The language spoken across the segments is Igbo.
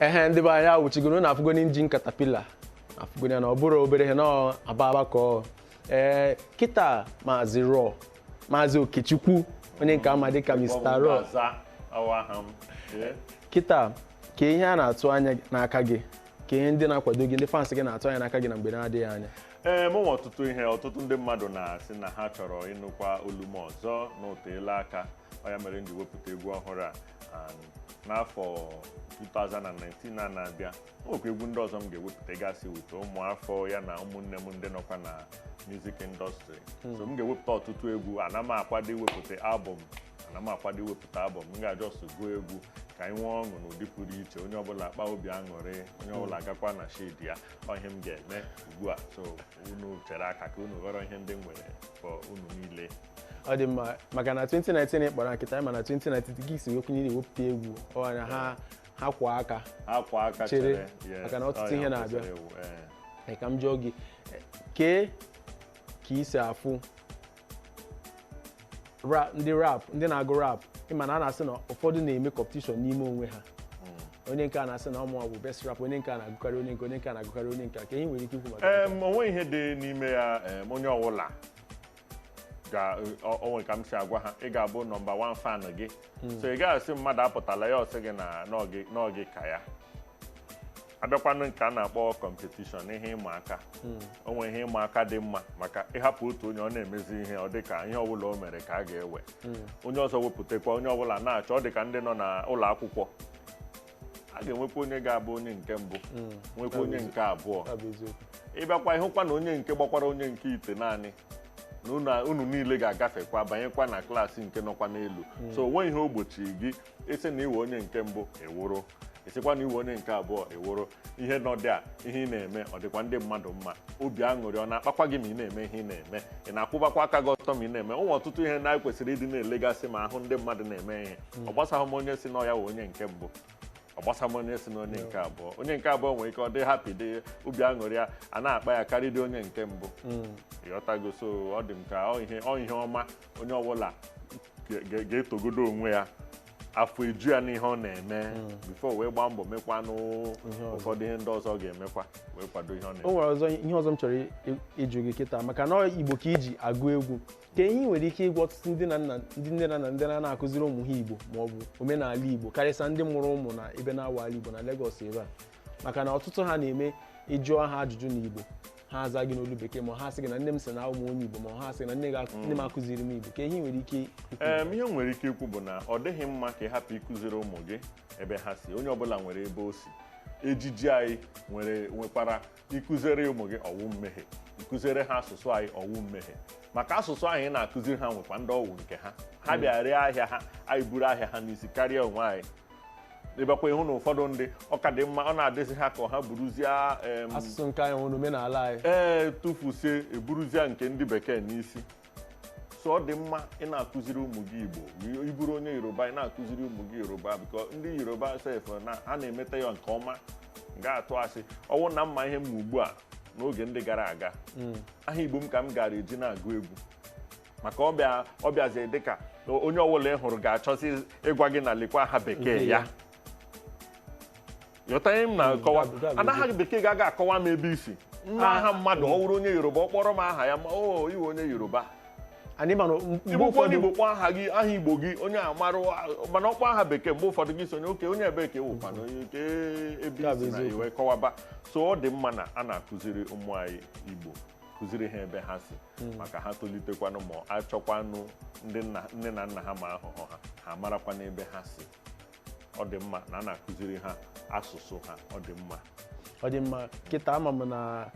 ehe ndị be anyị awụchigoro na afụgonụ injin katapila afụgonụ ya na ọ bụrọ obere ihe na aba aba ka ọ ee kịta maazị raw maazị okechukwu onye nke a ma dịka mr raw Aza awụ aha m. Ee. kịta kee ihe a na-atụ anya n'aka gị kee ihe ndị na-akwado gị ndị fans gị na-atụ anya n'aka gị na mgbe na-adịghị anya ee mụ nwere ọtụtụ ihe ọtụtụ ndị mmadụ na-asị na ha chọrọ ịnụkwa olu m ọzọ na oteela aka ọ ya mere m ji wepụta egwu ọhụrụ a and n'afọ 2019 a na-abịa o nwekwa egwu ndị ọzọ m ga-ewepụta gasị with ụmụafọ ya na ụmụnne m ndị nọkwa na music industry so m ga-ewepụta ọtụtụ egwu ana m akwado iwepụta album ana m akwado iwepụta album m ga-just gụọ egwu ka anyị nwee ọṅụ n'ụdị pụrụ iche onye ọbụla akpa obi aṅụrị onye ọbụla agakwa na shade ya ọ ihe m ga-eme ugbu a so unu chere aka ka unu ghọrọ ihe ndị m nwere for unu niile ọ dị mma maka na 2019 ị kpọrọ kịta ma na 2019 gị si okwu niile wepụta egwu ọnya ha ha kwụ aka akwa aka Chere, chere yes, maka na ọtụtụ ọ ya ihe na-abịa. kwesịrị ewu, eh. Ee, ka m jụọ gị eh, kee ka i si afụ ra- ndị rap ndị na-agụ rap ị ma na a na-asị na ụfọdụ na-eme competition n'ime onwe ha onye nke a na-asị na ọ mụwa bụ best rap onye nke a na-agụkarị onye nke onye nke a na-agụkarị onye nke a kee ihe i nwere ike ikwu maka nke a? Em, o nweghị ihe dị n'ime ya em, onye ọwụla ga ọ o nwere ka m si agwa ha ị ga-abụ number one fan gị so ị gaghị asị mmadụ apụtala ya ọ sị gị na na ọ gị ka ya a bịakwanụ nke a na-akpọ competition ihe ịma aka o nwere ihe ịma aka dị mma maka ị hapụ otu onye ọ na-emezi ihe ọ dị ka ihe ọbụla o mere ka a ga-ewe onye ọzọ wepụtakwa onye ọbụla na-achọ ọ dị ka ndị nọ na ụlọ akwụkwọ a ga-enwekwa onye ga-agba onye nke mbụ nwekwa onye nke abụọ ọ bụ eziokwu ị bịakwa ị hụkwa na onye nke gbakwara onye nke itenaanị na unu- unu niile ga-agafekwa banyekwa na class nke nọkwa n'elu so o nweghị ihe o gbochiri gị ị sị na ị wụ onye nke mbụ ị wụrụ ị sịkwa na ị wụ onye nke abụọ ị wụrụ ihe nọ dị a ihe ị na-eme ọ dịkwa ndị mmadụ mma obi aṅụrị ọ na-akpakwa gị ma ị na-eme ihe ị na-eme ị na-akwụbakwa aka gị ọtọ ma ị na-eme o nwere ọtụtụ ihe na anyị kwesịrị ịdị na-elegasị ma a hụ ndị mmadụ na-eme ihe ọ gbasaghị m onye sị na ya wụ onye nke mbụ ọ gbasaghị m onye sị na ọ onye nke abụọ onye nke abụọ nwere ike ọ dị happy dị obi aṅụrị ya ana-akpa ya karịdị onye nke mbụ ị ghọtago so ọ dị m ka ọ ihe ọ ihe ọma onye ọbụla ga- ga- ga-etogodo onwe ya afọ eju ya n'ihe ọ na-eme before wee gbaa mbọ mekwanụ ụfọdụ ihe ndị ọzọ ọ ga-emekwa wee kwado ihe ọ ọ na-eme o nwere ihe ọzọ m chọrọ i- i- ịjụ gị kịta maka na ọ igbo ka i ji agụ egwu kee ihe ị nwere ike ịgwa ọtụtụ ndị na nna ndị nne na nna ndị na na-akụziri ụmụ ha igbo ma ọ bụ omenala igbo karịsịa ndị mụrụ ụmụ na ebe na-awa ala igbo na Lagos ebe a maka na ọtụtụ ha na-eme ị jụọ ha ajụjụ na igbo ha aza gị n'olu bekee ma ha sị gị na nne m sị na abụ m onye igbo ma ha sị na nne gị akụ- nne m akụziri m igbo kee ihe ị nwere ike ikwu Em, ihe m nwere ike ikwu bụ na ọ dịghị mma ka ị hapụ ịkụziri ụmụ gị ebe ha si onye ọbụla nwere ebe o si ejiji anyị nwere nwekwara ịkụziere ụmụ gị ọ wụ mmehie ịkụziere ha asụsụ anyị ọ wụ mmehie maka asụsụ ahụ ị na-akụziri ha nwekwa ndị ọ wụ nke ha ha hmm. bịa ree ahịa ha anyị buru ahịa ha n'isi karịa onwe anyị ị bịakwa ị hụ na ụfọdụ ndị ọ ka dị mma ọ na-adịzi ha ka ha buruzie asụsụ nke anyị nwere omenala anyị ee tụfusie eburuzie nke ndị bekee n'isi so ọ dị mma ị na-akụziri ụmụ gị igbo ị bụrụ onye yoruba ị na-akụziri ụmụ gị yoruba because ndị yoruba sef na ha na-emeta ya nke ọma ga-atụ asị ọ wụ na m ma ihe m ma ugbu a n'oge ndị gara aga hmm. aha igbo m ka m gara eji na-agụ egwu maka ọ bịazi dịka onye ọbụla ị hụrụ ga-achọzi ịgwa gị na lekwa aha bekee ya ghọta ihe m na-akọwa Gabi, gabi, na aha bekee ga-aga akọwa m ebe i si na aha mmadụ ọ wụrụ onye yoruba ọ kpọrọ m aha ya ma ọ wụ onye yoruba anyị mana mgbe ị bụkwa onye ụfọdụ igbo kpọọ aha gị aha igbo gị onye amarụ mana ọ kpọọ aha bekee mgbe ụfọdụ gị sonye oke onye ebee ka ọ wụkwa na onye oke ebe Ya bụ isi na eziokwu. i wee kọwaba so ọ dị mma na a na-akụziri ụmụ anyị igbo kụziri ha ebe ha si maka ha tolitekwanụ ma achọkwanụ ndị nna- nne na nna ha ma ahụhụ ha ha marakwa n'ebe ha si ọ dị mma na a na-akụziri ha asụsụ ha ọ dị mma ọ dị mma kịta ama m na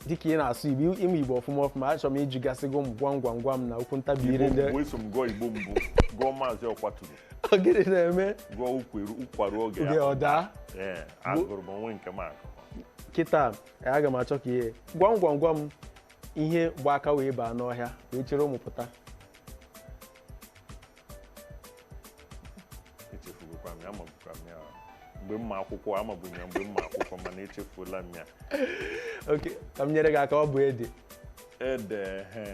dịka ị na-asụ igbo ị ma igbo ọfụma ọfụma achọrọ m ịjụgasị gị gwam gwam gwam na okwu ntabi ire igbo ndị mbụ eso m gụọ igbo mbụ gụọ maazị ọkwaturu ogede na-eme gụọ ụkwa ruo ụkwa ruo oge oge ya ọ daa ee agụrụ m o nwe nke m agụ kịta aga m achọ ka ihe gwam gwam gwam ihe gba aka wee baa n'ọhịa wee chịrị ụmụ pụta echefugokwa m ya amabukwa m ya mgbe m ma akwụkwọ amabu m ya mgbe m ma akwụkwọ mana echefuola m ya okay ka m nyere gị aka ọ bụ ede ede he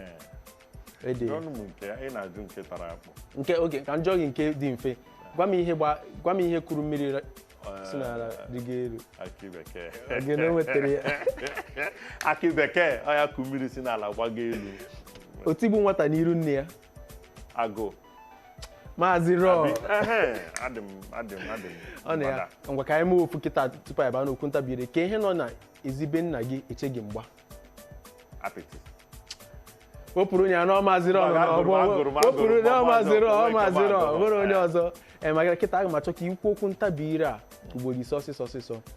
ede ọnụ m nke ị na-ajụ nke tara akpụ nke okay ka m jụọ gị nke dị mfe gwa m ihe gba- gwa m ihe kuru mmiri ra- si n'ala rịgo elu akị bekee gị na o nwetara ya akị bekee ọ ya ku mmiri si n'ala gbago elu otigbu nwata n'iru nne ya agụụ maazị Raw adị m adị m adị m ọ na ya gbada. ngwa ka anyị mee ofu kịta tupu anyị baa n'okwu ntabi ire kee ihe nọ na ezi be nna gị eche gị mgba apịtị wepụrụ onye anọ maazị Raw Mba, agụrụ m, agụrụ m, agụrụ m, wepụrụ onye ọ maazị maazị Raw ọ ọzọ, maazị Raw agụrụ m. nwere onye ọzọ ee maka kịta aga m achọ ka i kwuo okwu ntabi ire a ugboro ise ọsịsọ ọsịsọ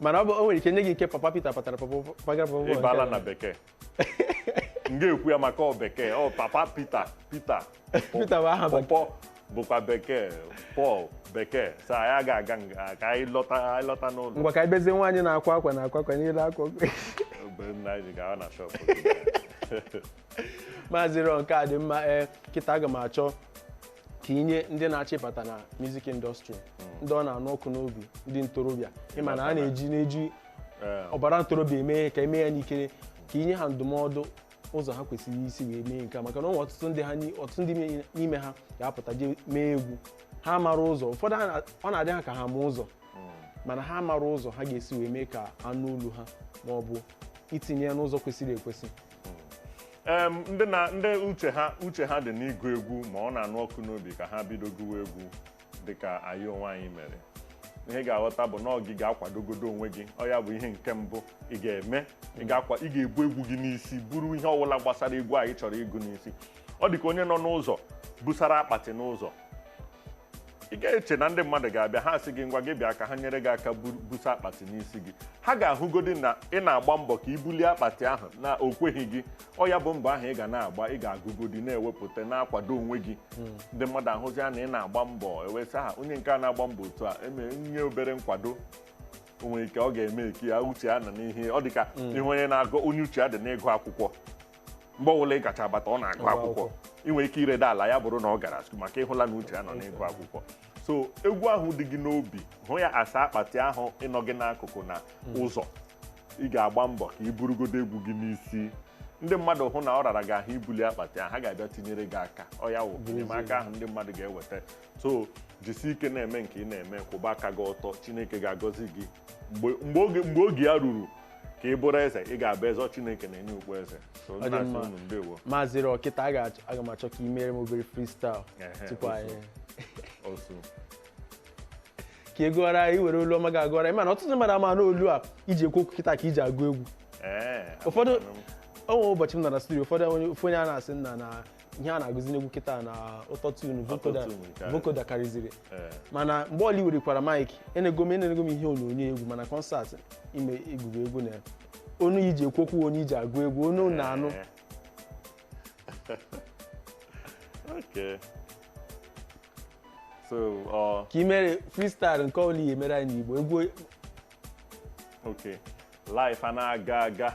mana ọ bụ o nwere ike nye gị nke papa Peter patara pọpọ pagara papa Paul ịbala nke- na bekee m ga-ekwu ya maka ọ bekee ọ papa Peter Peter Peter bụ aha bekee. pọpọ bụkwa bekee Paul bekee so anyị ga-aga nga ka anyị lọta anyị lọta n'ụlọ ngwa ka anyị bezie nwaanyị na-akwa akwa na akwa akwa niile akwa mgbe m na anyị ga na shop maazị Raw nke a dị mma ee kịta aga m achọ ka inye ndị na-achọ ịbata na music industry ndị ọ na-anụ ọkụ n'obi ndị ntorobịa ịma na a na-eji na-eji Ee, ọbara ntorobịa eme ihe ka eme ya n'ikere ka inye ha ndụmọdụ ụzọ ha kwesịrị isi wee mee nke a maka na ọ nwere ọtụtụ ndị ha ni- ọtụtụ ndị n'ime- n'ime ha ga-apụta jee mee egwu ha amarọ ụzọ ụfọdụ ha na- ọ na-adị ha ka ha ma ụzọ mana ha amarọ ụzọ ha ga-esi wee mee ka anụ olu ha ma ọ bụ itinye ya n'ụzọ kwesịrị ekwesị Em, ndị na ndị uche ha uche ha dị n'ịgụ egwu ma ọ na-anụ ọkụ n'obi ka ha bido gụwa egwu dịka anyị onwe anyị mere ihe ị ga-aghọta bụ na ọ gị ga-akwadogodo onwe gị ọ ya bụ ihe nke mbụ ị ga-eme ị ga-akwa ị ga-ebu egwu gị n'isi buru ihe ọbụla gbasara egwu a ị chọrọ ịgụ n'isi ọ dị ka onye nọ n'ụzọ busara akpati n'ụzọ ị ga-eche na ndị mmadụ ga-abịa ha sị gị ngwa gị bịa ka ha nyere gị aka bu- busa akpati n'isi gị ha ga-ahụgodi na ị na-agba mbọ ka ibulie akpati ahụ na o kweghị gị ọ ya bụ mbọ ahụ ị ga na-agba ị ga-agụgodi na-ewepụta na-akwado onwe gị ndị mmadụ ahụzi ya na ị na-agba mbọ e wee sị ha onye nke a na-agba mbọ otu a e nye obere nkwado o nwere ike ọ ga-emake ya uche ya nọ n'ihe ọ dị ka ihe onye na-agụ onye uche ya dị n'ịgụ akwụkwọ mgbe ọbụla ị gacha bata ọ na-agụ akwụkwọ ị nwere ike ireda ala ya bụrụ na ọ gara school maka ịhụla na uche ya nọ n'ịgụ akwụkwọ so egwu ahụ dị gị n'obi hụ ya as akpati ahụ nọ gị n'akụkụ na ụzọ ị ga-agba mbọ ka ị burugodo egwu gị n'isi ndị mmadụ hụ na ọ rara gị ahụ ibuli akpati ahụ ha ga-abịa tinyere gị aka ọ ya wụ enyemaka ahụ ndị mmadụ ga-eweta so jisi ike na-eme nke ị na-eme kwụba aka gị ọtọ chineke ga-agọzi gị mgbe oge ya ruru ka ị bụrụ eze ị ga-abụ eze chineke na-enye okpu eze maazị Raw kịta aga m achọ ka ị mere m obere freestyle tupu anyị ka ị gụọra anyị were olu ọma gị a gụọra anyị mana ọtụtụ mmadụ ama na olu a iji ekwu okwu kịta ka iji agụ egwu ụfọdụ o nwe ụbọchị m nọ na studio ụfọdụ onye a na-asị nna na ihe a na-agụzi n'egwu kịta na autotune vocoder Autotune nke a. vocoder karịziri Ee. mana mgbe ọbụla i werekwara mic enego m enego m ihe onyonyo egwu ma na concert ime egwugo egwu na onu a iji ekwu okwu onu iji agụ egwu onu na-anụ Ee. Okay. So, ọ ka i mere freestyle nke ọbụla i ya-emere anyị n'igbo egwu okay. Life a na-aga aga.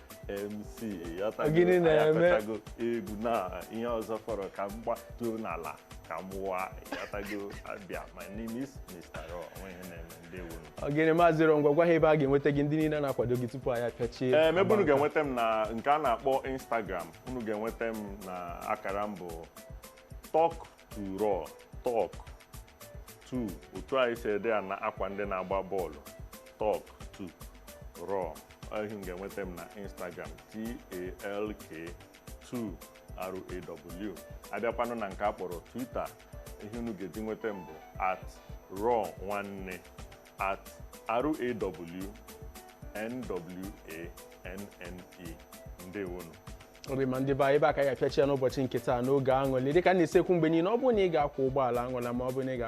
mc Gịnị na-eme? ịghọtago egwu na ihe ọzọ fọrọ ka m gbatuo n'ala ka m wụwa ịghọtago abịa my name is Mr. Raw o nwe ihe na-eme ndewo ogene maazị Raw ngwa gwa ha ebe a ga-enweta gị ndị niile na-akwado gị tupu anyị apịachie eem ebe unu ga-enweta m na nke a na-akpọ instagram unu ga-enweta m na akara m bụ talk to raw talk 2 otu anyị si ede ya na akwa ndị na-agba bọọlụ talk to raw ọ ihe unu ga-enweta m na instagram talk2raw abịakwanụ na nke a kpọrọ twitter ihe unu ga-eji nweta m bụ at raw nwanne at raw nwanne ndewonu ọ dị mma ndị be anyị ebe a ka anyị ga-apịachi ya n'ụbọchị nke taa n'oge aṅụlị dịka m na-esi ekwu mgbe niile ọ bụrụ na ị ga-akwọ ụgbọala aṅụla ma ọ bụrụ na ị ga